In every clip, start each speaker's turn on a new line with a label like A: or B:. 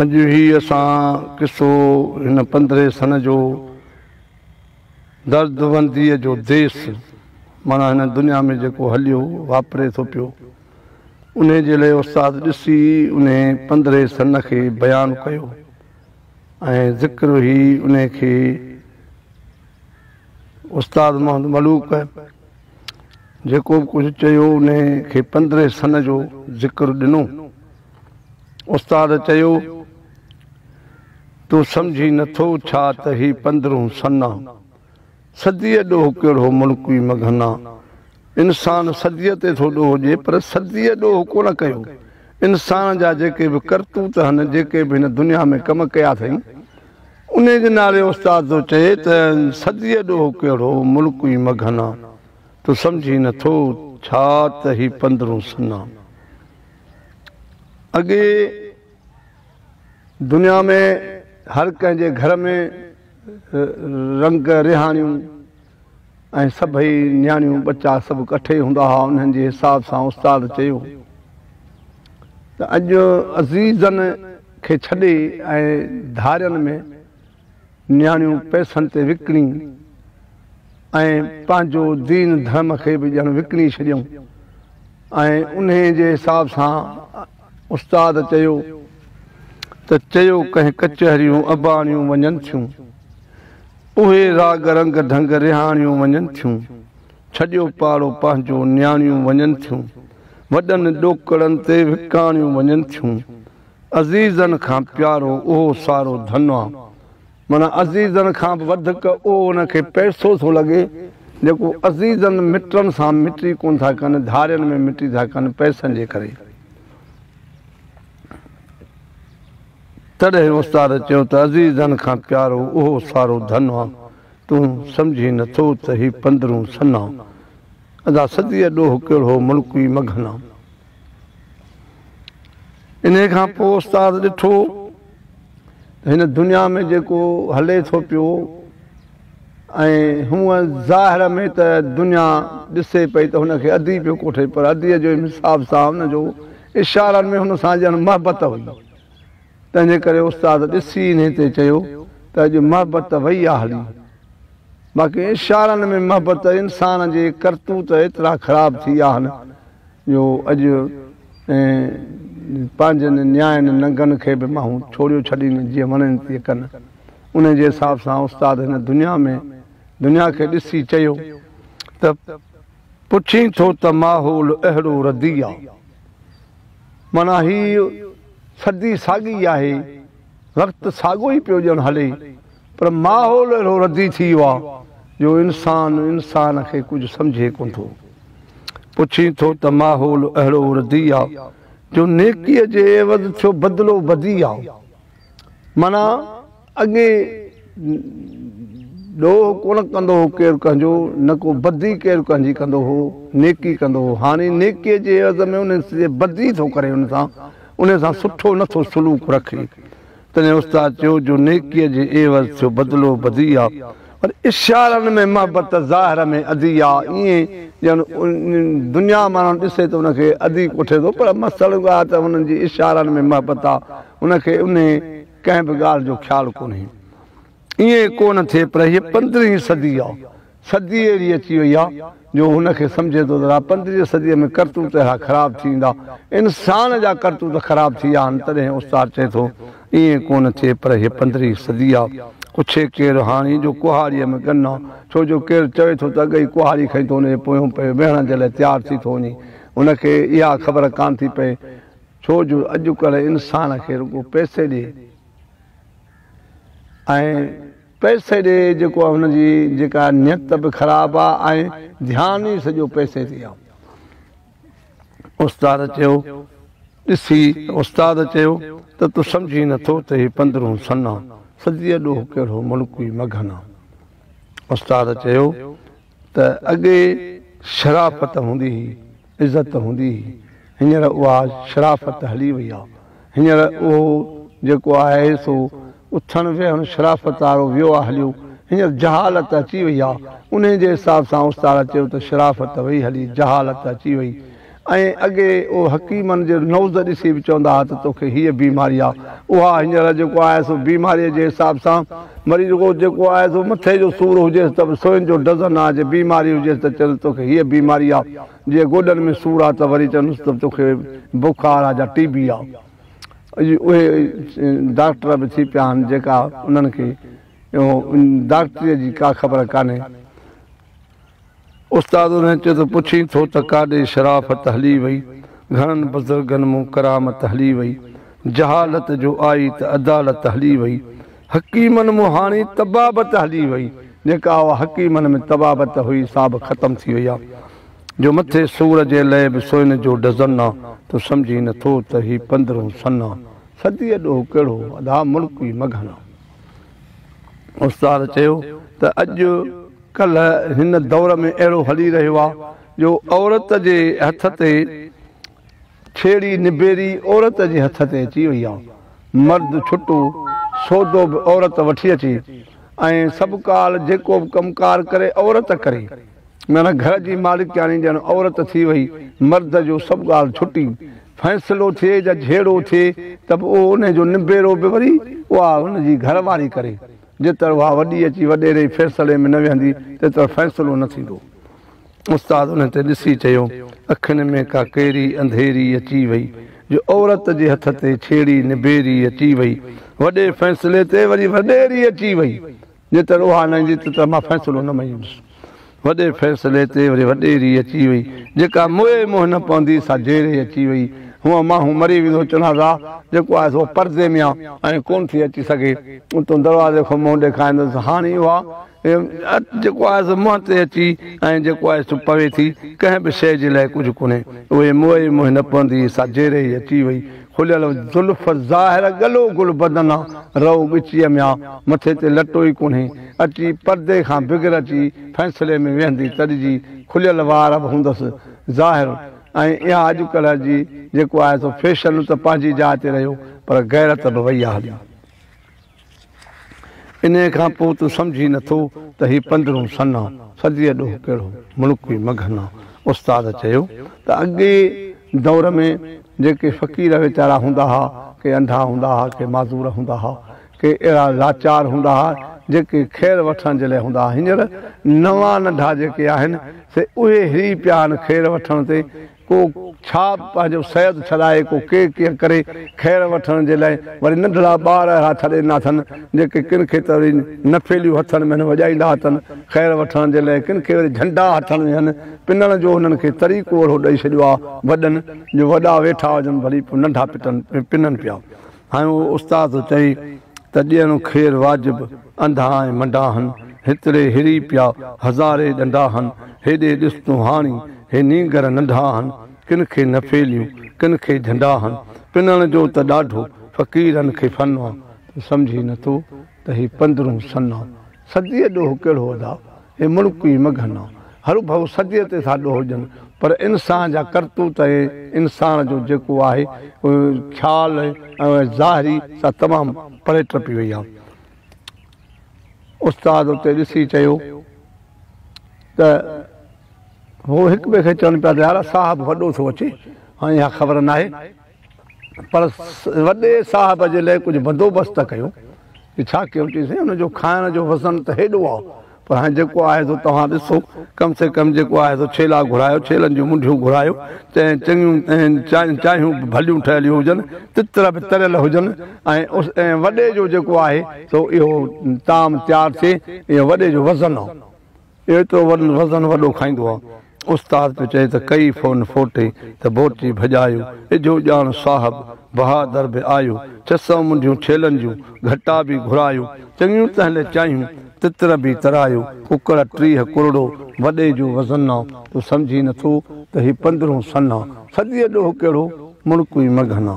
A: اڄ هي اسان قصو هن پندرهين سن جو دردمنديء جو ديس معنيٰ هن دنيا ۾ جيڪو هليو واپري ٿو پيو انهي جي لئي استاد ڏسي انهي پندرهين سن کي بيان ڪيو ۽ ذڪر هي انهي کي استاد محمد ملوڪ جيڪو به ڪجهه چيو انهي کي پندرهين سن جو ذڪر ڏنو. استاد چيو تون سمجهين نه ٿو ڇا ته هي پندرهون سن آ. صديء ڏوهه ڪهڙو ملڪوي مگهن آ. انسان صديء تي ٿو ڏوهه ڏي پر صديء ڏوهه ڪونه ڪيو. انسان جا جيڪي به ڪرتوت هن جيڪي به هن دنيا ۾ ڪم ڪيا اٿئي انهيء جي نالي استاد ٿو چئي ته صديء ڏوهه ڪهڙو ملڪ ئي مگهنا، تو سمجهين نه ٿو ڇا ته هي پندرهون سنا اڳي دنيا ۾ هر ڪنهن جي گهر ۾ رنگ رهاڻيون، ۽ سڀئي نياڻيون ٻچا سڀ ڪٺي هوندا ها انهن جي حساب سان استاد چيو ته اڄ عزيزن کي ڇڏي ۽ ڌارين ۾ نياڻيون پئسن تي وڪڻي ۽ پنهنجو دين ڌرم کي به ڄڻ وڪڻي ڇڏيون ۽ انهي جي حساب سان استاد چيو ته چيو ڪنهن ڪچهريون اباڻيون وڃن ٿيون. اهي راڳ رنگ ڍنگ رهاڻيون وڃن ٿيون، ڇڏيو پاڙو پنهنجو نياڻيون وڃن ٿيون، وڏن ڏوڪڙن تي وڪاڻيون وڃن ٿيون، عزيزن کان پيارو اهو سارو ڌن آ، معنيٰ عزيزن کان به وڌڪ اهو ان کي پئسو ٿو لڳي، جيڪو عزيزن مٽن سان مٽي ڪونه ٿا ڪن، ڌارين ۾ مٽي ٿا ڪن، پئسن جي ڪري. تڏهن استاد چيو ته عزيزن کان پيارو اهو سارو ڌن آ، تون سمجهين نه ٿو ته هي پندرون سن آ. ادا سڌيء ڏوهه ڪهڙو ملڪ ئي مگهن آ. انهيء کان پوء استاد ڏٺو ته هن دنيا ۾ جيڪو هلي ٿو پيو ۽ هونء ظاهر ۾ ته دنيا ڏسي پئي ته هن کي ادي پيو ڪوٺي پر اديء جو حساب سان هن جو اشارن ۾ هن سان ڄڻ محبت هئي، تنهنجي ڪري استاد ڏسي انهي تي چيو ته اڄ محبت ته وئي آ هلي، باقي اشارن ۾ محبت انسان جي ڪرتوت ايترا خراب ٿي آهن جو اڄ ۽ پنهنجن نياين ننگن کي به ماهون ڇوڙيو ڇڏين جيئن وڻين تيئن ڪن. انهي جي حساب سان استاد هن دنيا ۾ دنيا کي ڏسي چيو ته. پڇين ٿو ته ماحول اهڙو ردي آ. معنيٰ هي صدي ساڳي ئي آهي، وقت ساڳو ئي پيو ڄڻ هلي، پر ماحول اهڙو ردي ٿي ويو آ جو انسان انسان کي ڪجهه سمجهي ڪونه ٿو. پڇين ٿو ته ماحول اهڙو ردي آ جو نيڪيء جي عيوض ٿيو بدلو بدي آ. معنيٰ اڳي ڏوهه ڪونه ڪندو هو ڪير ڪنهن جو، نه ڪو بدي ڪير ڪنهن جي ڪندو هو، نيڪي ڪندو هو. هاڻي نيڪيء جي عيوض ۾ انهي سڄي بدي ٿو ڪري ان سان، انهي سان سٺو نه ٿو سلوڪ رکي. تڏهن استاد چيو جو نيڪيء جي عيوض ٿيو بدلو بدي آ، پر اشارن ۾ محبت ظاهر ۾ ادي آ، ائين ڄڻ دنيا ماڻهن ڏسي ته ان کي ادي ڪوٺي ٿو، پر اصل ڳالهه ته هنن جي اشارن ۾ محبت آ، ان کي انهي. ڪنهن به ڳالهه جو خيال ڪونهي. ائين ڪو نه ٿئي پر هيء پندرهين صدي آ، صدي اهڙي اچي وئي آ جو هن کي سمجهي ٿو ته رها پندرهين صديء ۾ ڪرتوت اهڙا خراب ٿي ويندا، انسان جا ڪرتوت خراب ٿي ويا آهن. تڏهن استاد چئي ٿو، ائين ڪو نه ٿئي پر هيء پندرهين صدي آ. پڇي ڪير هاڻي جو ڪهاڙيء ۾ ڳن آ، ڇو جو ڪير چوي ٿو ته اڳ ئي ڪهاڙي کڻي ٿو ان جي پويون پئي ويهڻ جي لاء تيار ٿي ٿو وڃي. هن کي اها خبر ڪانه ٿي پئي ڇو جو اڄڪلهه انسان کي رڳو پئسي ڏي ۽ پئسي ڏي جيڪو هن جي جيڪا نيت به خراب آ ۽ ڌيان ئي سڄو پئسي تي آ. استاد چيو ڏسي استاد چيو ته تون سمجهين نه ٿو ته هي پندرهون سنه صديء ڏوهه ڪهڙو ملڪوي مگهن آ. استاد چيو ته اڳي شرافت هوندي هئي، عزت هوندي هئي، هينئر اها شرافت هلي وئي آ، هينئر اهو جيڪو آهي سو اٿڻ ويهڻ شرافت وارو ويو آ هليو، هينئر جهالت اچي وئي آ، انهي جي حساب سان استاد چيو ته شرافت وئي هلي جهالت اچي وئي، ۽ اڳي او حڪيمن جي نوز ڏسي به چوندا ها ته توکي هيء بيماري آ. اها هينئر جيڪو آهي سو بيماريء جي حساب سان مري رڳو جيڪو آهي سو مٿي جو سور هجيس ته به سوين جو ڊزن آ، جي بيماري هجيس ته چئونس توکي هيء بيماري آ، جي گوڏن ۾ سور آ ته وري چئونس ته توکي بخار آ جا ٽي بي آ. اڄ اهي ڊاڪٽر به ٿي پيا آهن جيڪا انهن کي ڊاڪٽريء جي ڪا خبر ڪانهي. استاد انهن چيو ته پڇين ٿو ته ڪاڏي شرافت هلي وئي، گهڻن بزرگن مون ڪرامت هلي وئي، جهالت جو آئي ته عدالت هلي وئي، حڪيمن مون هاڻي طبابت هلي وئي، جيڪا اها حڪيمن ۾ طبابت هئي سا به ختم ٿي وئي آ، جو مٿي سور جي لئه به سوئن جو ڊزن آ، تون سمجهين نٿو ته هي پندرهون سن آ، صديء ڏوهه ڪهڙو ادا ملڪ ئي مگهن آ. استاد چيو ته اڄ ڪلهه هن دور ۾ اهڙو هلي رهيو آهي جو عورت جي هٿ تي ڇيڙي نبيري عورت جي هٿ تي اچي وئي آهي مرد ڇٽو سودو به عورت وٺي اچي ۽ سڀ ڪال جيڪو به ڪم ڪار ڪري عورت ڪري ميان گهر جي مالڪياڻي ڄڻ عورت ٿي وئي، مرد جو سڀ ڳالهه ڇٽي، فيصلو ٿئي يا جهيڙو ٿئي ته به اهو انهي جو نبيرو به وري اها هن جي گهر واري ڪري، جيتر اها وڏي اچي وڏيري فيصلي ۾ نه ويهندي تيتر فيصلو نه ٿيندو. استاد انهي تي ڏسي چيو، اکين ۾ ڪا ڪهڙي انڌيري اچي وئي جو عورت جي هٿ تي ڇيڙي نبيري اچي وئي، وڏي فيصلي تي وري وڏيري اچي وئي، جيتر اها نه ايندي تيتر مان فيصلو نه مڃيندس. وڏي فيصلي تي وري وڏي ريء اچي وئي. جيڪا موئي منهن نه پوندي سا جي ريء اچي وئي. هونء ماڻهو مري ويندو چنازا جيڪو آهي سو پردي ميان ائين ڪونه ٿي اچي سگهي. اتون دروازي کان منهن ڏيکاريندس هاڻي اها اٽ جيڪو آهي سو منهن تي اچي ۽ جيڪو آهي سو پوي ٿي. ڪنهن به شيء جي لاء ڪجهه ڪونهي. اهي موئي منهن نه پوندي سا جي ريء اچي وئي. کليل زلف ظاهر ڳلو گل بدن آ، رئو ڳچيء ۾ آ، مٿي تي لٽو ئي ڪونهي، اچي پردي کان بغير اچي فيصلي ۾ ويهندي تڏجي، کليل وار به هوندس، ظاهر ۽ اها اڄڪلهه جي جيڪو آهي سو فيشن ته پنهنجي جاء تي رهيو پر غيرت به وئي آ هلي. انهيء کان پوء تون سمجهين نه ٿو ته هي پندرهون سنه صديء ڏوهه ڪهڙو ملڪ هئي مگهنا استاد چيو ته اڳئين دور ۾ جيڪي فقير ويچارا هوندا ها ڪي انڌا هوندا ها ڪي معذور هوندا ها ڪي اهڙا لاچار هوندا ها جيڪي خير وٺڻ جي لاء هوندا ها هينئر نوان ننڍا جيڪي آهن سي اهي هري پيا آهن خير وٺڻ تي ڪو ڇا پنهنجو سيد ڇڏائي ڪو ڪي ڪيئن ڪري خير وٺڻ جي لئه وري ننڍڙا ٻار اهڙا ڇڏي ڏنا اٿن جيڪي ڪن کي ته وري نفيليون هٿن ۾ هن وڄائيندا اٿن خير وٺڻ جي لئه ڪن کي وري جهنڊا هٿن ۾ هن پنڻ جو هنن کي طريقو اهڙو ڏئي ڇڏيو آ وڏن جو وڏا ويٺا هجن ڀلي پوء ننڍا پٽن پنن پيا هنيو استاد چئي ته ڏيڻو خير واجب، انڌا ۽ منڊا هن، هتڙي هري پيا، هزاري ڏنڊا هن، هيڏي ڏس تون هاڻي، هي نينگر ننڍا هن، ڪن کي نفيليون، ڪن کي جهنڊا هن، پنڻ جو ته ڏاڍو، فقيرن کي فن آ. تون سمجهين نٿو ته هي پندرهون سن آ. صديء ڏوهه ڪهڙو ادا، هي ملڪ ئي مگهن آ. هر ڀؤ سڄي تي ٿا ڏوهجن پر انسان جا ڪرتوت ۽ انسان جو جيڪو آهي خيال ۽ ظاهري سا تمام پري ٽپي وئي آ. استاد اتي ڏسي چيو ته هو هڪ ٻئي کي چون پيا ته يار صاحب وڏو ٿو اچي هانئن اها خبر ناهي. پر وڏي صاحب جي لئه ڪجهه بندوبست ته ڪيو. چي ڇا ڪيون؟ چيائين سائين ان جو کائڻ جو وزن ته هيڏو آ پر هاڻي جيڪو آهي سو توهان ڏسو ڪم سي ڪم جيڪو آهي سو ڇيلا گهرايو ڇيلن جون منڍيون گهرايو چيائين چڱيون ۽ چايون به ڀليون ٺهيليون هجن تتر به تريل هجن ۽ وڏي جو جيڪو آهي سو اهو طعام تيار ٿئي اهو وڏي جو وزن آ. ايترو وزن وڏو کائيندو آ. استاد پيو چئي ته ڪئي فون فوٽي ته بورچي ڀڄايو. اجهو ڄاڻ صاحب بهادر به آيو. چسئون منڍيون ڇيلن جون گهٽا به گهرايو. چڱيون تهلي چايون تتر به ترايو. ڪڪڙ ٽيهه ڪرڙو وڏي جو وزن آ. تو سمجهين نه ٿو ته هي پندرهون سن آ. ٿڌيء ڏوهه ڪهڙو مڙڪوئي مگهن آ.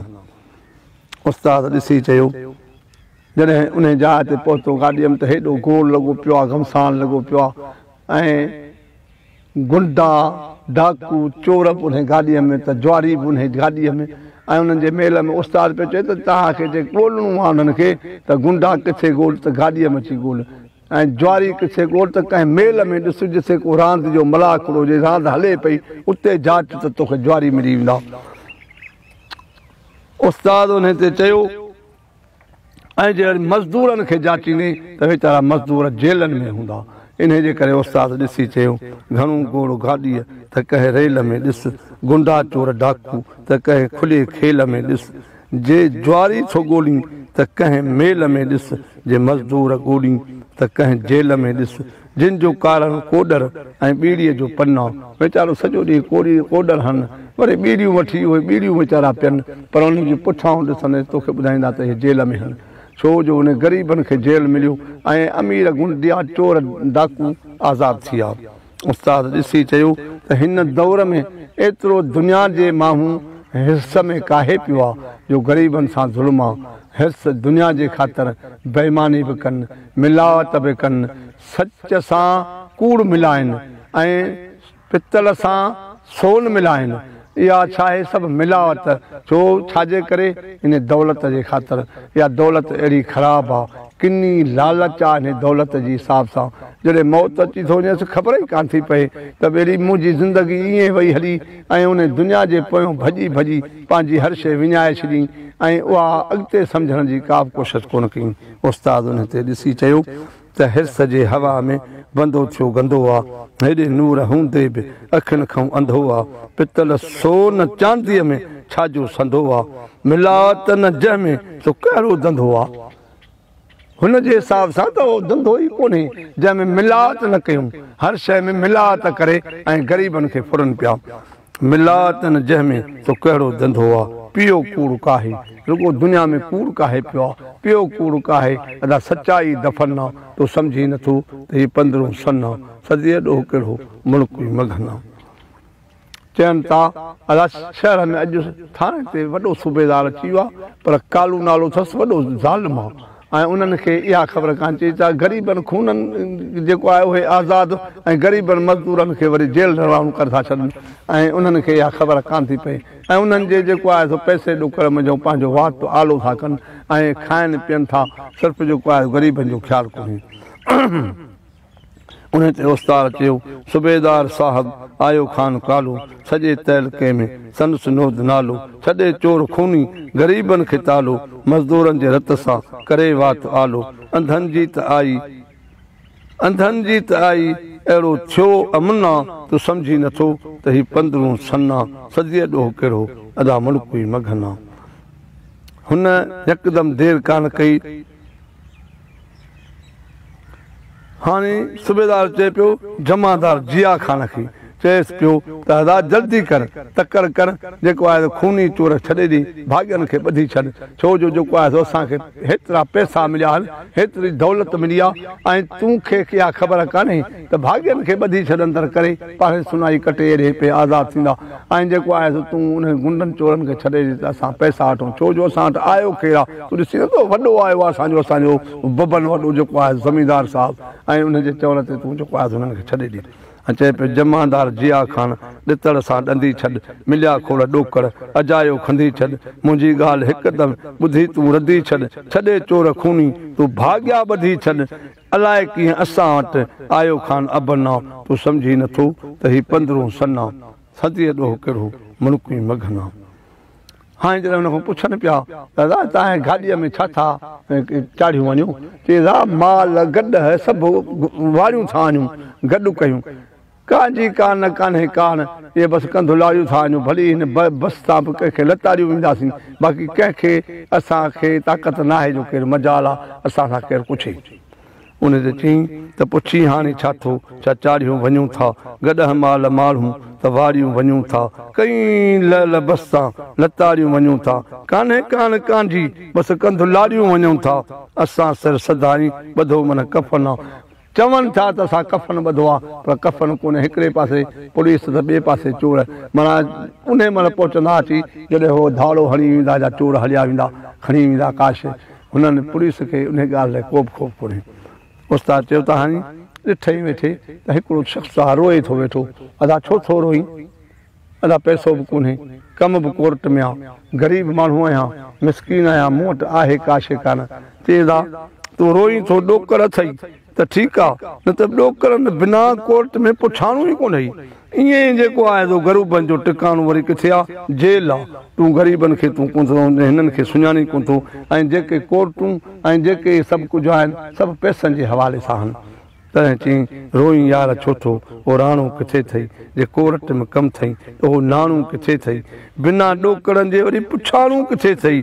A: استاد ڏسي چيو. جڏهن انهيء جاء تي پهتو گاڏيم ته هيڏو گول لڳو پيو آ، گهمسان لڳو پيو آ ۽ غنڊا، ڊاڪو، چور به انهيء گاڏيء ۾ ته جواري به انهيء گاڏيء ۾ ۽ انهن جي ميل ۾ استاد پيو چوي ته توهان کي جي ڳولڻو آ انهن کي ته غنڊا ڪٿي ڳول ته گاڏيء ۾ اچي ڳول ۽ جواري ڪٿي ڳول ته ڪنهن ميل ۾ ڏس جتي ڪو راند جو ملاکڙو جي راند هلي پئي اتي جاچ ته توکي جواري ملي ويندا. استاد انهيء تي چيو. ۽ جي اڄ مزدورن کي جاچيندين ته ويچارا مزدور جيلن ۾ هوندا. انهيء جي ڪري استاد ڏسي چيو، گهڻو گوڙ گاڏيء ته ڪنهن ريل ۾ ڏس، گنڊا چور ڊاڪو ته ڪنهن کلي کيل ۾ ڏس، جي جواري ٿو ڳولين ته ڪنهن ميل ۾ ڏس، جي مزدور ڳولين ته ڪنهن جيل ۾ ڏس، جن جو ڪارڻ ڪوڏر ۽ ٻيڙيء جو پنو. ويچارو سڄو ڏينهن ڪوڏي ڪوڏر هڻ، وري ٻيڙيون وٺي اهي ٻيڙيون ويچارا پين، پر انهن جي پٺيان ڏسندينس توکي ٻڌائيندا ته اهي جيل ۾ هڻ، ڇو جو انهن غريبن کي جيل مليو ۽ امير غنڊيا چور ڊاڪو آزاد ٿيا. استاد ڏسي چيو ته هن دور ۾ ايترو دنيا جي ماڻهون حرص ۾ ڪاهي پيو آ جو غريبن سان ظلم آ، حرص دنيا جي خاطر بيماني به ڪن، ملاوت به ڪن، سچ سان ڪوڙ ملائن ۽ پتل سان سون ملائن، اها ڇاهي سڀ ملاوت، ڇو ڇاجي ڪري ان دولت جي خاطر، اها دولت اهڙي خراب آ، ڪني لالچ آ ان دولت جي حساب سان، جڏهن موت اچي ٿو وڃيس خبر ئي ڪانه ٿي پئي ته ٻيلي منهنجي زندگي ائين وئي هلي ۽ ان دنيا جي پويان ڀڄي ڀڄي پنهنجي هر شيء وڃائي ڇڏين ۽ اها اڳتي سمجهڻ جي ڪابه ڪوشش ڪونه ڪئين. استاد انهي تي ڏسي چيو ته حرص جي هوا ۾ بندو ٿيو گندو آ، هيڏي نور هوندي به اکين کان انڌو آ، پتل سو نه چانديء ۾ ڇاجو سنڌو آ، ملاوت نه جنهن ۾ سو ڪهڙو ڌنڌو آ. هن جي حساب سان ته اهو ڌنڌو ئي ڪونهي جنهن ۾ ملاوت نه ڪيون، هر شيء ۾ ملاوت ڪري ۽ غريبن کي ڦرن پيا. ملا تن جنهن ۾ تو ڪهڙو ڌنڌو آ پيو ڪوڙ ڪاهي رڳو دنيا ۾ ڪوڙ ڪاهي پيو آ پيو ڪوڙ ڪاهي ادا سچائي دفن آ تو سمجهين نٿو ته هي پندرهون سن آ صديء ڏوهه ڪهڙو ملڪ ئي مگهن آ. چين تا ادا شهر ۾ اڄ ٿاڻي تي وڏو صوبيدار اچي ويو آ پر ڪالو نالو اٿس وڏو ظالم آ. ۽ انهن کي اها خبر ڪانه چئي ته غريبن خونن جيڪو آهي اهي آزاد ۽ غريبن مزدورن کي وري جيل روانو ڪري ٿا ڇڏن ۽ انهن کي اها خبر ڪانه ٿي پئي ۽ انهن جي جيڪو آهي سو پئسي ڏوڪڙ منجهو پنهنجو واٽ آلو ٿا ڪن ۽ کائن پين ٿا صرف جيڪو آهي غريبن جو خيال ڪونهي. انهيء تي اوستاد چيو، صوبيدار صاحب! آيو خان ڪالو، سڄي تعلقي ۾ سندس نود نالو، ڇڏي چور خوني، غريبن کي تالو، مزدورن جي رت سان، ڪري وات آلو، انڌن جي ته آئي، انڌن جي ته آئي، اهڙو ٿيو امنا، تون سمجهين نٿو ته هي پندرهون سنا، صديء ڏوهه ڪهڙو، ادا ملڪ ئي مگهنا. هن يڪدم دير ڪانه ڪئي. هاڻي صوبيدار چئي پيو جمعدار جيا خان کي، چئيس پيو ته هدا جلدي ڪر، تڪڙ ڪر، جيڪو آهي سو خوني چور ڇڏي ڏي، ڀاڳين کي ٻڌي ڇڏ، ڇو جو جيڪو آهي سو اسان کي هيترا پئسا مليا آهن، هيتري دولت ملي آهي ۽ تون کي اها خبر ڪانهي ته ڀاڳين کي ٻڌي ڇڏن تر ڪري پاڙهي سنائي ڪٽي ايري پئي آزاد ٿيندا ۽ جيڪو آهي سو تون انهن غنڊن چورن کي ڇڏي ڏي ته اسان پئسا وٺون ڇو جو اسان وٽ آيو ڪير آ تون ڏسين نه ته وڏو آيو آ اسان جو اسان جو ببن وڏو جيڪو آهي زميندار صاحب ۽ انهن جي چوڻ تي تون جيڪو آهي سو انهن کي ڇڏي ڏي ۽ چئي پيو جمعدار جيا خان ڏتڙ سان ڏندي ڇڏ مليا کوڙ ڏوڪڙ اجايو کنڌي ڇڏ منهنجي ڳالهه هڪدم ٻڌي تون رڌي ڇڏ ڇڏي چور خوني تون ڀاڳيا ٻڌي ڇڏ الاء ڪيئن اسان وٽ آيو خان ابنا، تون سمجهين نه ٿو ته هي پندرهون سنا، صديء ڏوهه ڪهڙو ملڪوئين مگهنا. هاڻي جڏهن هن کان پڇن پيا ته را تانهين گاڏيء ۾ ڇا ٿا چاڙهيون وڃون؟ چي را مال گڏهه سڀ واڙيون ٿا آڻيون، گڏ ڪيون. ڪانه جي ڪانه نه ڪانهي ڪاڻ اهي بس ڪنڌولاريون ٿا آهيون ڀلي هن بس تان به ڪنهن کي لتاڙيون وينداسين باقي ڪنهن کي اسان کي طاقت ناهي جو ڪير مجال آ اسان سان ڪير پڇي انهي تي چين ته پڇين هاڻي ڇا ٿو ڇا چاڙهيون وڃون ٿا گڏهه مال ماڙهون ته واريون وڃون ٿا ڪئين لعل بس تان لتاڙيون وڃون ٿا ڪانهي ڪاڻ ڪانه جي بس ڪنڌولاريون وڃون ٿا اسان سر سڌائين ٻڌو من ڪفن آ چون ٿا ته اسان ڪفن ٻڌو آ پر ڪفن ڪونهي هڪڙي پاسي پوليس ته ٻئي پاسي چور معنيٰ انهي مهل پهچندا اچي جڏهن هو ڌاڙو هڻي ويندا جا چور هليا ويندا کڻي ويندا ڪا شي هنن پوليس کي انهي ڳالهه لاء ڪوبه خوف ڪونهي استاد چيو ته هاڻي ڏٺئي ويٺي ته هڪڙو شخص آ روئي ٿو ويٺو ادا ڇو ٿو روئين؟ ادا پئسو به ڪونهي ڪم به ڪورٽ ۾ آ غريب ماڻهو آهيان مسڪين آهيان مون وٽ آهي ڪا شي ڪانه چئين ادا تون روئين ٿو ڏوڪڙ اٿئي ته ٺيڪ آ نه ته ڏوڪڙن بنا ڪورٽ ۾ پٺاڻو ئي ڪونهي ائين ئي جيڪو آهي سو غروبن جو ٽڪاڻو وري ڪٿي آ جيل آ تون غريبن کي تون ڪونه ٿو سمجهين هنن کي سڃاڻين ڪونه ٿو ۽ جيڪي ڪورٽون ۽ جيڪي هي سڀ ڪجهه آهن سڀ پئسن جي حوالي سان آهن تڏهن چيائين، روئين يار ڇو ٿو، او راڻو ڪٿي ٿئي، جي ڪورٽ ۾ ڪم ٿئي، ته اهو ناڻو ڪٿي ٿئي، بنا ڏوڪڙن جي وري پڇاڻو ڪٿي ٿئي،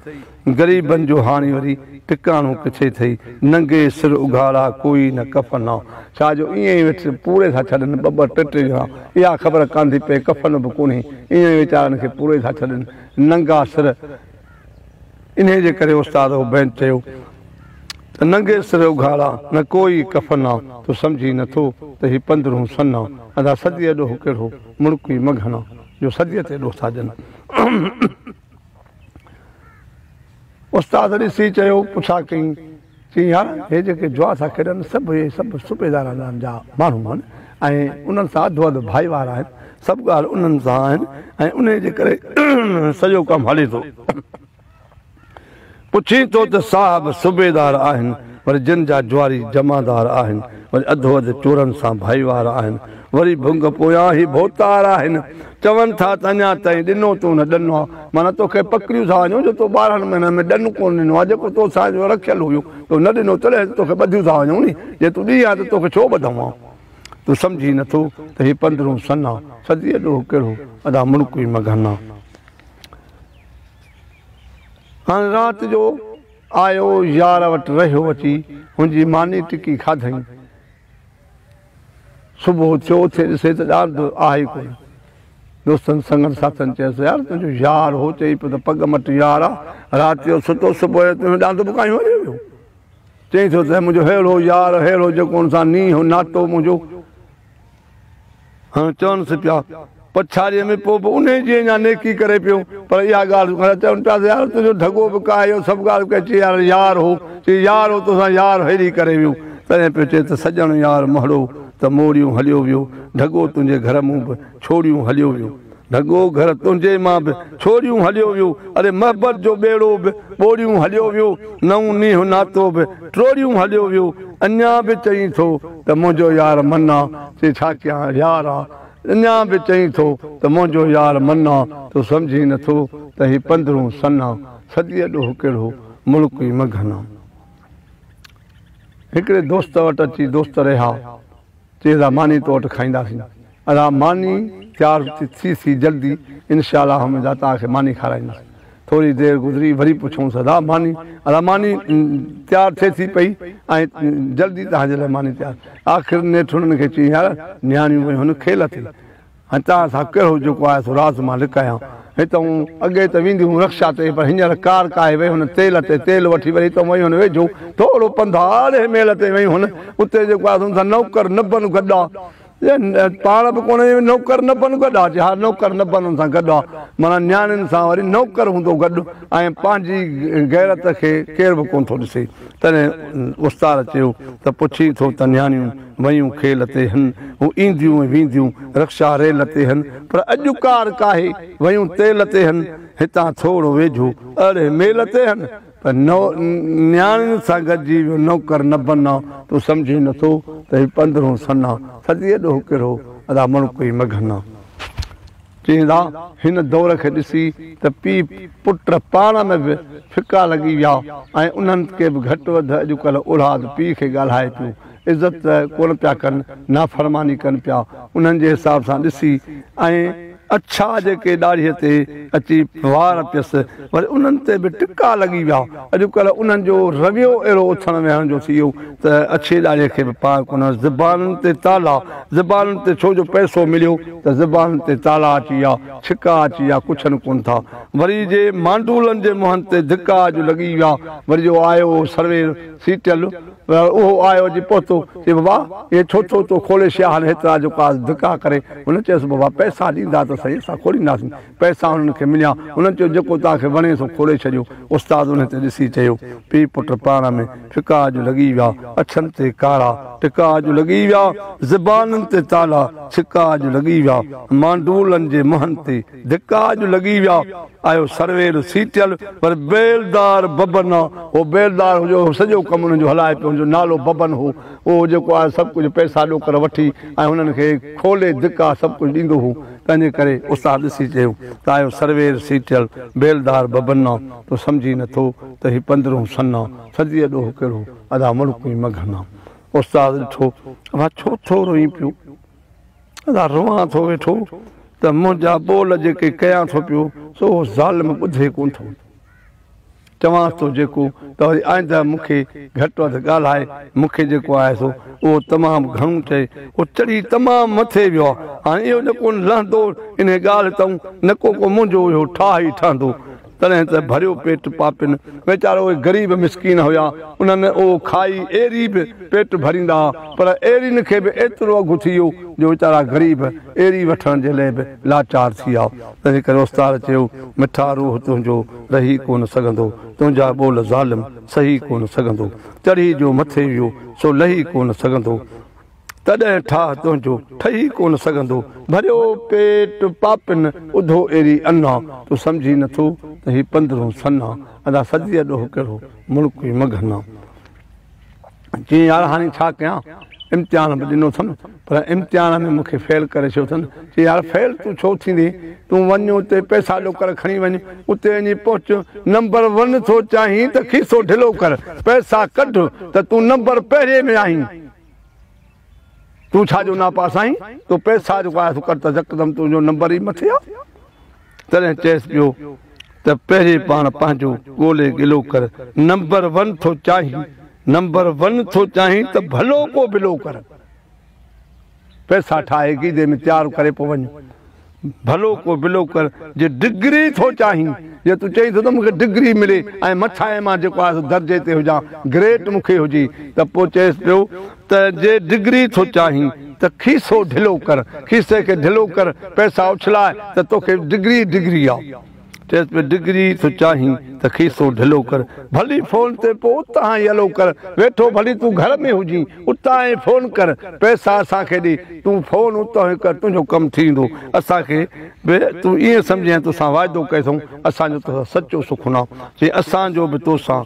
A: غريبن جو هاڻي وري ٽڪاڻو ڪٿي ٿئي، ننگي سر اگهاڙا ڪوئي نه ڪفن ها. ڇا جو ائين ئي ويٺس پوري ٿا ڇڏن ٻه ٻه ٽي ٽي ڄڻا، اها خبر ڪانڌي پئي ڪفن به ڪونهي، ائين ئي ويچارن کي پوري ٿا ڇڏن ننگا سر. انهيء جي ڪري استاد عبيد چيو ته ننگي سر اگهاڙا نه ڪو ئي ڪفن آ، تون سمجهين نه ٿو ته هي پندرهون سن آ، ادا صديء ڏوهه ڪهڙو مڙڪوي مگهن آ، جو صديء تي ڏوهه ٿا ڏين. استاد ڏسي چيو، پڇا ڪئين؟ چيائين، يار! هي جيڪي جوا ٿا کيڏن، سڀ اهي سڀ صوبيدارانن جا ماڻهو آهن ۽ انهن سان اڌ اڌ ڀائيوار آهن. سڀ ڳالهه انهن سان آهن ۽ انهيء جي ڪري سڄو ڪم هلي ٿو. پڇين ٿو ته صاحب صوبيدار آهن، وري جن جا جواري جمعدار آهن، وري اڌو اڌ چورن سان ڀائيوار آهن، وري ڀنگ پويان هي ڀوتار آهن. چون ٿا ته اڃا تائين ڏنو تون نه ڏنو آ، معنيٰ توکي پڪڙيون ٿا وڃون جو تو ٻارهن مهينن ۾ ڏن ڪونه ڏنو آ، جيڪو تو سان جو رکيل هيو، تو نه ڏنو تڏهن ته توکي ٻڌيون ٿا وڃون ني، جي تون ڏيئي آ ته توکي ڇو ٻڌون آ؟ تون سمجهين نه ٿو ته هي پندرهون سن آ، صديء ڏوهه ڪهڙو، ادا مڙڪوئي مگهن آ. هاڻي رات جو آيو يار وٽ رهيو اچي، هن جي ماني ٽڪي کاڌئين. صبح اٿيو، اٿي ڏسي ته ڄار ته آهي ئي ڪونه. دوستن سنگن ساٿين چيس، يار تنهنجو يار هو، چئي پيو ته پڳ مٽ يار آ، رات جو ستو، صبح جو تنهنجو ڏاند به ڪاهيون هليو ويو. چئي ٿو ته منهنجو ههڙو يار، ههڙو جيڪو ان سان نينهن هو، ناتو منهنجو. هن چونس پيا، پڇاڙيء ۾ پوء به انهيء جي اڃا نيڪي ڪري پيو، پر اها ڳالهه ڪونه. چون پيا ته يار تنهنجو ڍڳو به ڪا اهو سڀ ڳالهه ڪئي، چي يار يار هو، چي يار هو تو سان يار هيري ڪري ويو، تڏهن پيو چئي ته سڄڻ يار مهڙو ته موڙيون هليو ويو، ڍڳو تنهنجي گهر مون به ڇوڙيون هليو ويو. ڍڳو گهر تنهنجي مان به ڇوڙيون هليو ويو اڙي محبت جو ٻيڙو به ٻوڙيون هليو ويو نئون نينهن ناتو به ٽوڙيون هليو ويو اڃا به چئين ٿو ته منهنجو يار منا سي ڇا ڪيان يار آ اڃا به چئين ٿو ته منهنجو يار منا تو سمجهين نه ٿو ته هي پندرهون سن آ صدي ڏوهه ڪهڙو ملڪ ئي مگهن آ هڪڙي دوست وٽ اچي دوست رهيا. تيز آ ماني تو وٽ کائينداسين. ادا ماني تيار ٿي سي جلدي انشاء الله ھم ادا توھان کي ماني کارايندس ٿوري دير گذري وري پڇيونس ادا ماني ادا ماني تيار ٿئي ٿي پئي ۽ جلدي توھان جي لاء ماني تيار آخر نيٺ ھنن کي چيائين يار نياڻيون ويون ھن کيل اٿئي هتان سان ڪهڙو جيڪو آهي سو راز مان لڪايان. هتئون اڳي ته ويندي هئم رڪشا تي پر هينئر ڪار ڪاهي وئي هن تيل تي تيل وٺي وري هتئون وئي هن ويجهو ٿورو پنڌ آهي اڙهي ميل تي وئي هن اتي جيڪو آهي سو ان سان نوڪر نبن گڏا پاڻ به ڪونه وئي نوڪر نبن گڏا چي ها نوڪر نبن ان سان گڏا معنيٰ نياڻين سان وري نوڪر هوندو گڏ ۽ پنهنجي غيرت کي ڪير به ڪونه ٿو ڏسي تڏهن استاد چيو ته پڇي ٿو ته نياڻيون ويون کيل تي هن، هو اينديون ۽ وينديون رڪشا ريل تي هن، پر اڄ ڪار ڪاهي، ويون تيل تي هن، هتان ٿورو ويجهو اڙهي ميل تي هن، پر نو نياڻين سان گڏجي ويو نوڪر نه بنا، تون سمجهين نه ٿو ته هي پندرهون سنا، ٿڌيء ڏوهه ڪرهو ادا مڻڪ ئي مگهنا. چين ٿا، هن دور کي ڏسي ته پيء پٽ پاڻ ۾ به ڦڪا لڳي ويا ۽ انهن کي به گهٽ وڌ اڄڪلهه اولاد پيء کي ڳالهائي پيو، عزت ته ڪونه پيا ڪن، نافرماني ڪن پيا، انهن جي حساب سان ڏسي ۽ اڇا جيڪي ڏاڙهيء تي اچي وار پيس، وري انهن تي به ٽڪا لڳي ويا. اڄڪلهه انهن جو رويو اهڙو اٿڻ ويهڻ جو ٿي ويو ته اڇي ڏاڙهي کي به پاء ڪونه. زبانن تي تالا، زبانن تي ڇو جو پئسو مليو ته زبانن تي تالا اچي ويا، ڇڪا اچي ويا، ڪڇن ڪونه ٿا. وري جي مانڊولن جي منهن تي ڌڪا جو لڳي ويا. وري جو آيو اهو سروير، سيٽل، اهو آيو اچي پهتو، چئي بابا اهي ڇو ٿو تو کولي شياهن هيترا جو ڪا ڌڪا ڪري. هن چيس بابا پئسا ڏيندا ته سهي اسان کولينداسين. پئسا انهن کي مليا. انهن چيو، جيڪو توهان کي وڻي سو کوڙي ڇڏيو. استاد انهن تي ڏسي چيو، پيء پٽ پاڻ ۾ ڦڪا اڄ لڳي ويا، اڇن تي ڪارا ٽڪا اڄ لڳي ويا، زبانن تي تالا ڇڪا اڄ لڳي ويا، مانڊولن جي منهن تي ڌڪا اڄ لڳي ويا. آيو سروير سيٽيل پر بيلدار ببن آ. هو بيلدار هو جو سڄو ڪم انهن جو هلائي پيو. هن جو نالو ببن هو. اهو جيڪو آيو سڀ ڪجهه پئسا ڏوڪڙ وٺي ۽ انهن کي کولي ڌڪا سڀ ڪجهه ڏيندو هو. تنهنجي ڪري استاد ڏسي چيو ته آيو سروير سيٽيل بيلدار ببنا تون سمجهي نه ٿو ته هي پندرهون سنا صديء ڏوهه ڪهڙو ادا مڙڪون ئي مگهنا استاد ڏٺو اڀا ڇو ٿو روئين پيو ادا روئان ٿو ويٺو ته منهنجا ٻول جيڪي ڪيان ٿو پيو سو اهو ظالم ٻڌي ڪونه ٿو چوانس ٿو جيڪو ته وري آئنده مون کي گهٽ وڌ ڳالهائي، مون کي جيڪو آهي سو اهو تمام گهڻو چئي، هو چڙهي تمام مٿي ويو آ، هاڻي اهو نه ڪو لهندو انهي ڳالهه تئون نه ڪو ڪو منهنجو اهو ٺاهه ئي ٺهندو، تڏهن ته ڀريو پيٽ پاپين ويچارا اهي غريب مسڪين هيا انهن اهو کائي ايري به پيٽ ڀريندا ها پر ايرين کي به ايترو اگهه ٿي ويو جو ويچارا غريب ايري وٺڻ جي لئي به لاچار ٿي ويا. تنهن ڪري اوستاد چيو، مٺا روح تنهنجو رهي ڪونه سگهندو، تنهنجا ٻول ظالم سهي ڪونه سگهندو، چڙهي جو مٿي ويو سو لهي ڪونه سگهندو، تڏهن ٺاهه تنهنجو ٺهي ڪونه سگهندو، ڀريو پيٽ پاپين اڌو ايري انا، تون سمجهين نه ٿو ته هي پندرهون سنا، ادا سڌيء ڏوهه ڪهڙو ملڪ ئي مگهنا. چيائين يار هاڻي ڇا ڪيان امتحان به ڏنو اٿم پر امتحان ۾ مون کي فيل ڪري ڇڏيو اٿن چيائين يار فيل تون ڇو ٿيندين تون وڃ اتي پئسا ڏو ڪر کڻي وڃ اتي وڃي پهچ نمبر ون ٿو چاهين ته کيسو ڍلو ڪر پئسا ڪڍ ته تون نمبر پهرين ۾ آهين تون ڇا جو ناپا سائين تو پئسا جو آيس ڪر ته يڪدم تنهنجو نمبر ئي مٿي آ تڏهن چيس پيو ته پهرين پاڻ پنهنجو ڳولي گلو ڪر نمبر ون ٿو چاهين نمبر ون ٿو چاهين ته ڀلو ڪو بلو ڪر پئسا ٺاهي گيدي ۾ تيار ڪري پو وڃ. ڀلو ڪو بلو ڪر جي ڊگري ٿو چاهين جي تون چئين ٿو ته مون کي ڊگري ملي ۽ مٿان ئي مان جيڪو آهي سو درجي تي هجان گريٽ مون کي هجي ته پوء چئيس پيو ته جي ڊگري ٿو چاهين ته کيسو ڍلو ڪر کيسي کي ڍلو ڪر پئسا اڇلاء ته توکي ڊگري ئي ڊگري آ. چيس پيو ڊگري ٿو چاهين ته کيسو ڍلو ڪر ڀلي فون تي پوء اتان ئي الو ڪر ويٺو ڀلي تون گهر ۾ هجين اتان ئي فون ڪر پئسا اسان کي ڏي تون فون اتان ئي ڪر تنهنجو ڪم ٿي ويندو اسان کي به تون ائين سمجهين توسان واعدو ڪيسون اسان جو توسان سچو سخنو چيائين اسان جو به توسان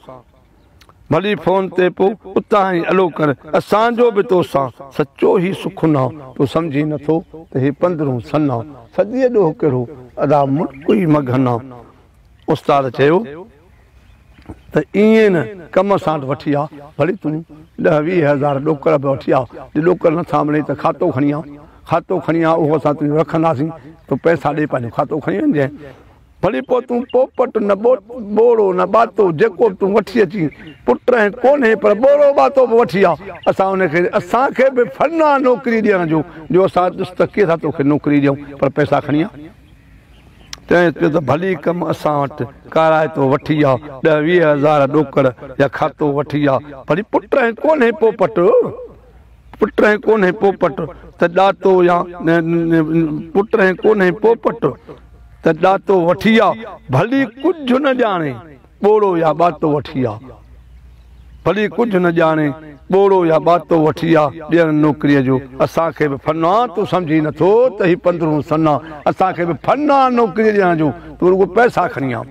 A: ڀلي فون تي پو اتان هي الو ڪر اسان جو به تو سان سچو هي سخنا تو سمجهي نه ٿو ته هي پندرهون سنا صدي ڏوهه ڪهڙو ادا ملڪ ئي مگهنا استاد چيو ته ايئن نه ڪم ساٽ وٺي آ ڀلي تون ڏهه ويهه هزار ڏوڪڙ به وٺي آ جي ڏوڪڙ نه ٿا ملين ته کاتو کڻي آ کاتو کڻي آ اهو اسان تنهنجو رکنداسين تو پئسا ڏي پنهنجو کاتو کڻي وڃجانء ڀلي پوء تون پوپٽ نه ٻوڙو نه ٻاتو جيڪو به تون وٺي اچين پٽ ۽ ڪونهي پر ٻوڙو ٻاتو به وٺي آ اسان ان کي اسان کي به فن آ نوڪري ڏيڻ جو جو اسان ڏس ته ڪيئن ٿا توکي نوڪري ڏيون پر پئسا کڻي آ تنهن چيو ته ڀلي ڪم اسان وٽ ڪارائتو وٺي آ ڏهه ويهه هزار ڏوڪڙ يا کاتو وٺي آ ڀلي پٽ ۽ ڪونهي پوپٽ. پٽ ۽ ڪونهي پوپٽ ته ڏاتو يا پٽ ۽ ڪونهي پوپٽ ته ڏاتو وٺي آ ڀلي ڪجهه نه ڄاڻي ٻوڙو يا ٻاتو وٺي آ ڀلي ڪجهه نه ڄاڻي ٻوڙو يا ٻاتو وٺي آ ڏيڻ نوڪريء جو اسان کي به فنا تون سمجهي نه ٿو ته هي پندرهون سنا اسان کي به فنا نوڪري ڏيڻ جو تون رڳو پئسا کڻي آ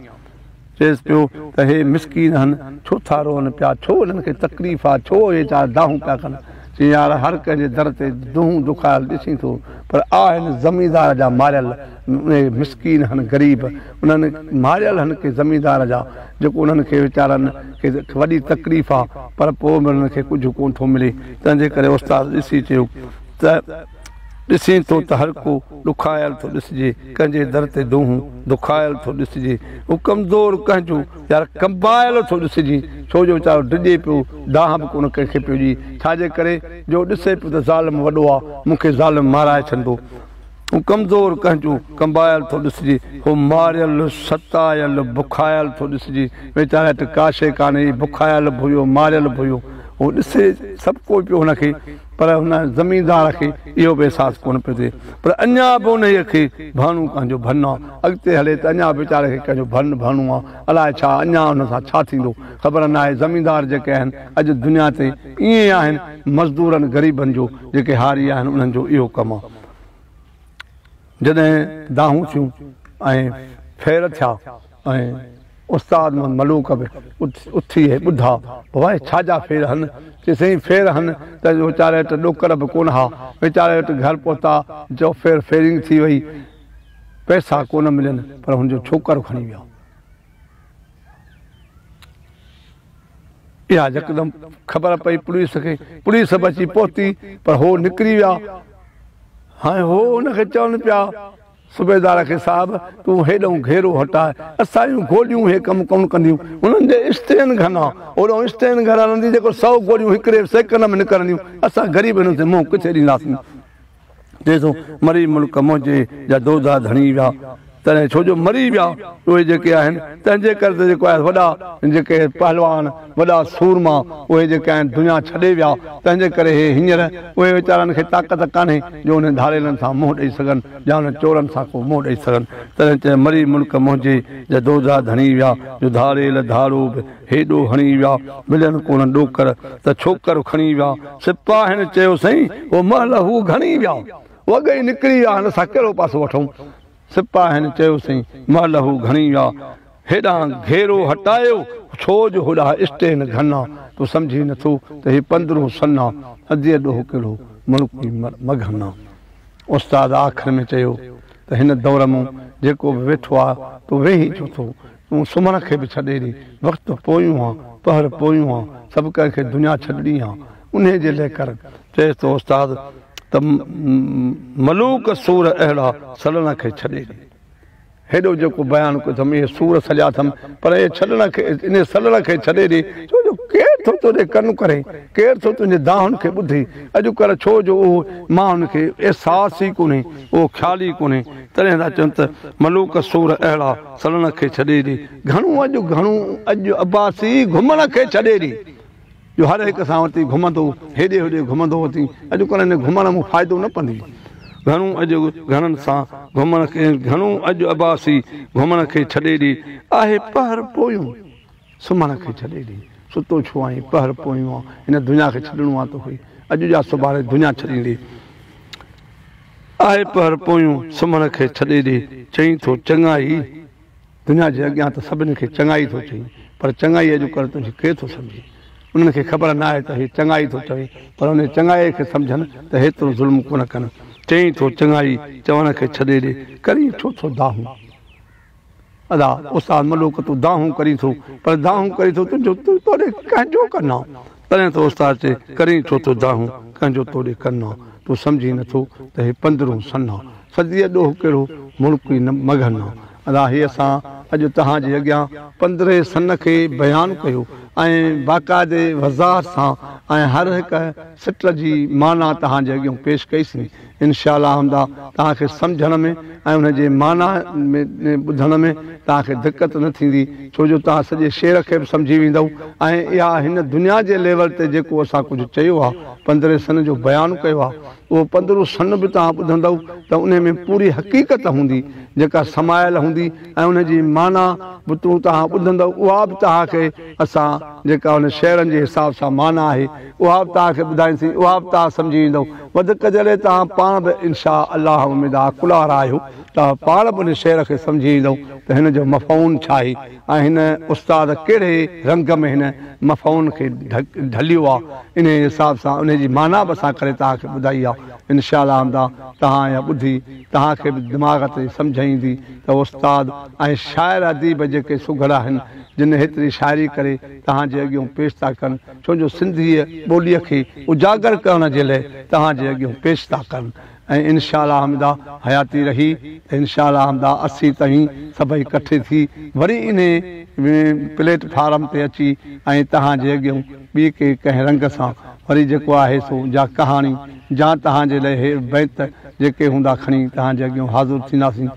A: چيس پيو ته هي مسڪين هن ڇو ٿا روئن پيا، ڇو انهن کي تڪليف آ، ڇو اهي چار دانهون پيا ڪن. چيائين يار هر ڪنهن جي در تي دونهون دکايل ڏسين ٿو پر آ هن زميندار جا ماريل اهي مسڪين هن غريب انهن ماريل هن ڪي زميندار جا جيڪو انهن کي ويچارن کي وڏي تڪليف آ پر پوء به انهن کي ڪجهه ڪونه ٿو ملي تنهنجي ڪري استاد ڏسي چيو ته ڏسين ٿو ته هر ڪو ڏکايل ٿو ڏسجي، ڪنهن جي در تي دونهون دکايل ٿو ڏسجي، ڪو ڪمزور ڪنهن جو يار ڪنبايل ٿو ڏسجي، ڇو جو ويچارو ڊڄي پيو، دانهن به ڪونه ڪنهن کي پيو ڏئي، ڇا جي ڪري جو ڏسي پيو ته ظالم وڏو آ، مون کي ظالم مارائي ڇڏندو، ڪو ڪمزور ڪنهن جو ڪنبايل ٿو ڏسجي، ڪو ماريل، ستايل، بکايل ٿو ڏسجي، ويچاري وٽ ڪا شيء ڪانه هئي، بکايل به هيو، ماريل به هيو، هو ڏسي سڀ ڪو پيو هن کي. پر هن زميندار کي اهو به احساس ڪونه پيو ٿئي. پر اڃا به انهيء کي ڀرڻو ڪنهن جو ڀرڻو آ. اڳتي هلي ته اڃا به ويچاري کي ڪنهن جو ڀرڻ ڀرڻو آ. الائي ڇا، اڃا هن سان ڇا ٿيندو؟ خبر ناهي. زميندار جيڪي آهن، اڄ دنيا تي ائين آهن. مزدورن غريبن جو، جيڪي هاري آهن، انهن جو اهو ڪم آ. جڏهن دانهون ٿيون ۽ ڦير ٿيا. ۽ استاد محمد ملوڪ به اٿي هي ٻڌا، بابا هي ڇا جا ڦير هن؟ چيس سائين ڦير هن ته ويچاري وٽ ڏوڪڙ به ڪونه ها، ويچاري وٽ گهر پهتا جو ڦير ڦيرنگ ٿي وئي، پئسا ڪونه ملين پر هن جو ڇوڪر کڻي ويا. اها يڪدم خبر پئي پوليس کي، پوليس به اچي پهتي پر هو نڪري ويا، هاڻي هو ان کي چون پيا صوبيدار کي صاحب تون هيڏئون گهيرو هٽاء اسانجون گوليون هي ڪم ڪونه ڪنديون هنن جي استين گهنا هوڏئون استين گهر هلندي جيڪو سئو گوليون هڪڙي سيڪنڊ ۾ نڪرنديون اسان غريب هنن تي منهن ڪٿي ڏينداسين چئي ٿو مري ملڪ منهنجي جا دودا ڌڻي ويا تڏهن ڇو جو مري ويا اهي جيڪي آهن تنهنجي ڪري ته جيڪو آهي وڏا جيڪي پهلوان وڏا سورما اهي جيڪي آهن دنيا ڇڏي ويا، تنهن جي ڪري هي هينئر اهي ويچارن کي طاقت ڪانهي جو انهن ڌاڙيلن سان منهن ڏئي سگهن يا انهن چورن سان ڪو منهن ڏئي سگهن. تڏهن چئه مري ملڪ منهنجي جا دوجا ڌڻي ويا جو ڌاڙيل ڌاڙو به هيڏو هڻي ويا، ملين ڪونه ڏوڪر ته ڇوڪر کڻي ويا. سپاهين چيو سائين هو مهل هو گهڻي ويا، هو اڳ ئي نڪري ويا هن سان ڪهڙو پاسو وٺون. سپاهين چيوسين، مهل هو گهڻي آ، هيڏانهن گهيرو هٽايو، ڇو جو هوڏا اسٽين گهنا، تون سمجهين نه ٿو ته هي پندرهون سنا، اديء ڏوهه ڪهڙو ملڪي مگهنا. استاد آخر ۾ چيو ته هن دور مون جيڪو به ويٺو آ، تون ويهين ڇو ٿو؟ تون سمهڻ کي به ڇڏي ڏي. وقت پويون آ، پهر پويون آ، سڀ ڪنهن کي دنيا ڇڏڻي آ. انهيء جي لئه ڪر. چيس ٿو استاد ته ملوڪ سور اهڙا سڏڻ کي ڇڏي ڏي. هيڏو جيڪو بيان ڪيو اٿم، اهي سور سڏيا اٿم، پر اهي ڇڏڻ کي، انهيء سڏڻ کي ڇڏي ڏي، ڇو جو ڪير ٿو تنهنجي ڪن ڪري، ڪير ٿو تنهنجي دانهن کي ٻڌي اڄڪلهه، ڇو جو اهو ماڻهن کي احساس ئي ڪونهي، اهو خيال ئي ڪونهي. تڏهن ٿا چون ته ملوڪ سور اهڙا. سڙڻ کي ڇڏي ڏي. گهڻو اڄ گهڻو اڄ عباسي گهمڻ کي ڇڏي ڏي. جو هر هڪ سان وتي گهمندو هيڏي هوڏي گهمندو وتي اڄ ڪلهه هن گهمڻ مون فائدو نه پندي. گهڻو اڄ گهڻن سان گهمڻ کي گهڻو اڄ عباسي گهمڻ کي ڇڏي ڏي. آهي پهر پويون. سمهڻ کي ڇڏي ڏي، ستو ڇو آهين؟ پهر پويون آ، هن دنيا کي ڇڏڻو آ توکي، اڄ جا سڀاڻي دنيا ڇڏيندي. آهي پهر پويون، سمهڻ کي ڇڏي ڏي، چئين ٿو چڱائي. دنيا جي اڳيان ته سڀني کي چڱائي ٿو چئين، پر چڱائي اڄڪلهه تنهنجي ڪير ٿو سمجهي؟ انهن کي خبر ناهي ته هي چڱائي ٿو چوي، پر انهيء چڱائيء کي سمجهن ته هيترو ظلم ڪونه ڪن. چئين ٿو چڱائي، چوڻ کي ڇڏي ڏي، ڪرين ڇو ٿو دانهون؟ ادا استاد ملوڪ تون دانهون ڪرين ٿو پر دانهون ڪرين ٿو تون جو تون توڙي ڪنهن جو ڪنا تڏهن ته استاد چي ڪرين ڇو ٿو دانهون ڪنهن جو توڙي ڪنا تون سمجهين نه ٿو ته هي پندرهون سنا صديء ڏوهه ڪهڙو ملڪ ئي نه مگهنا ادا هي اسان اڄ توهان جي اڳيان پندرهين سن کي بيان ڪيو ۽ باقاعدي وضاحت سان ۽ هر هڪ سٽر جي معنيٰ توهان جي اڳيون پيش ڪئي سين انشاء الله حمدا توهان کي سمجهڻ ۾ ۽ ان جي معنيٰ ۾ ٻڌڻ ۾ توهان کي دقت نه ٿيندي ڇو جو توهان سڄي شعر کي به سمجهي ويندؤ ۽ اها هن دنيا جي ليول تي جيڪو اسان ڪجهه چيو آهي پندرهين سن جو بيان ڪيو آهي اهو پندرهون سن به توهان ٻڌندؤ ته انهي ۾ پوري حقيقت هوندي جيڪا سمايل هوندي ۽ ان جي معنيٰ به توهان ٻڌندؤ اها به توهان کي اسان جيڪا ان شعرن جي حساب سان معنيٰ آهي اها به توهان کي ٻڌائينسين، اها به توهان سمجهي ويندئو. وڌيڪ جڏهن توهان پاڻ به ان شآء الله اميد آ عقل وارا آهيو، ته پاڻ به ان شعر کي سمجهي ويندئو ته هن جو مفعون ڇا آهي ۽ هن استاد ڪهڙي رنگ ۾ هن مفعون کي ڍليو آ، انهيء حساب سان انهيء جي معنيٰ به اسان ڪري توهان کي ٻڌائي آ. ان شآء الله اميد آ توهان اها ٻڌي توهان کي به دماغ تي سمجهه ايندي ته استاد ۽ شاعر اديب جيڪي سگهڙا آهن، جن ايتري شاعري ڪري توهان جي اڳيون پيش ٿا ڪن، ڇو جو سنڌيء ٻوليء کي اجاگر ڪرڻ جي لئه توهان جي اڳيون پيش ٿا ڪن ۽ انشاء الله حمده حياتي رهي ته انشاء الله حمده اسي توهين سڀئي ڪٺي ٿي وري انهي پليٽ فارم تي اچي ۽ توهان جي اڳيون ٻي ڪي ڪنهن رنگ سان وري جيڪو آهي سو جا ڪهاڻي جا توهان جي لئه بيت جيڪي هوندا کڻي توهان جي اڳيون حاضر ٿينداسين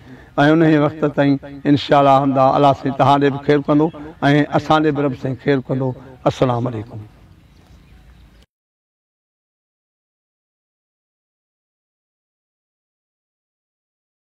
A: ۽ انهيء وقت تائين انشاء الله حمدا الله سائين توهان ڏي به خير ڪندو ۽ اسان ڏي به رب سائين خير ڪندو السلام عليڪم.